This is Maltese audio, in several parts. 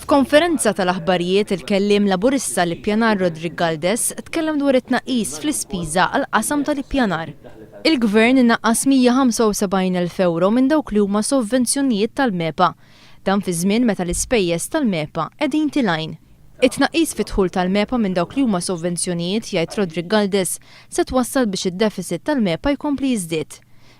F'konferenza tal-aħbarijiet il-kelliem Laburista l-Ippjanar Roderick Galdes tkellem dwar it-tnaqqis fl-ispiża għall-qasam tal-ippjanar. Il-Gvern inaqqas 175 elf ewro minn dawk li huma sovvenzjonijiet tal-MEPA. Dan fi żmien meta l-ispejjeż tal-MEPA qegħdin tilgħin. It-tnaqqis fid-dħul tal-MEPA minn dawk li huma sovvenzjonijiet, jgħid Roderick Galdes, se twassal biex id-defiċit tal-MEPA jkompli jiżdied.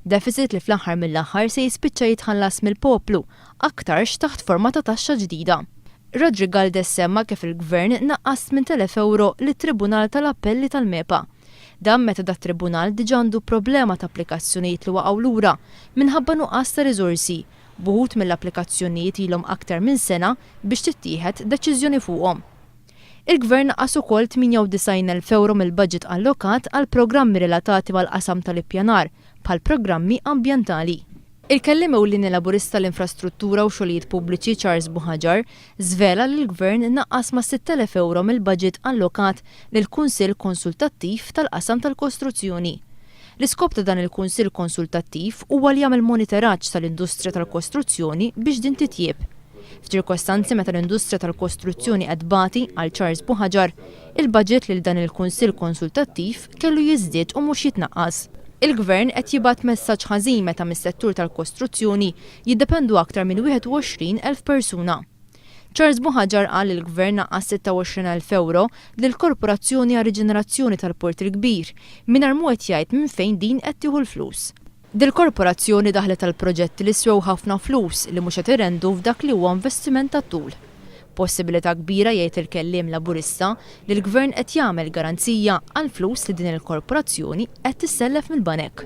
Defiċit li fl-aħħar mill-aħħar se jispiċċa jitħallas mill-poplu, aktarx taħt forma ta' taxxa ġdida. Roderick Galdes semma kif il-Gvern naqqas 8,000 ewro lit-Tribunal tal-Appelli tal-MEPA. Dan meta dat-Tribunal diġà għandu problema ta' applikazzjonijiet li waqgħu lura minħabba nuqqas ta' riżorsi, b'uħud mill-applikazzjonijiet ilhom aktar minn sena biex tittieħed deċiżjoni fuqhom. Il-Gvern naqqas ukoll 98 elf ewro mill-baġit allokat għal programmi relatati mal-qasam tal-ippjanar, bħall-programmi ambjentali. Il-Kelliem Ewlieni Laburista għall-Infrastruttura u Xogħlijiet Pubbliċi Charles Buhagiar żvela li l-Gvern naqqas ma' 6,000 ewro mill-baġit allokat lill-Kunsill Konsultattiv tal-Qasam tal-Kostruzzjoni. L-iskop ta' dan il-Kunsill Konsultattiv huwa li jagħmel moniteraġġ tal-industrija tal-kostruzzjoni biex din titjieb. F'ċirkostanzi meta l-industrija tal-kostruzzjoni qed tbati, qal Charles Buhaġar, il-baġit lil dan il-Kunsill Konsultattiv kellu jiżdied u mhux jitnaqqas. Il-Gvern qed jibgħat messaġġ ħażin meta mis-settur tal-kostruzzjoni jiddependu aktar minn 21 elf persuna. Charles Buhagiar qal li l-Gvern naqqas 26 elf ewro lill-Korporazzjoni għar-Riġenerazzjoni tal-Port il-Kbir, mingħajr mhu qed jgħid minn fejn din qed tieħu l-flus. Dil-korporazzjoni daħlet għal proġetti li swew ħafna flus li mhux qed irendu f'dak li huwa investiment tat-tul. Possibilità kbira jgħid il-kelliem Laburista li l-Gvern qed jagħmel garanzija għall-flus li din il-korporazzjoni qed tissellef mill-banek.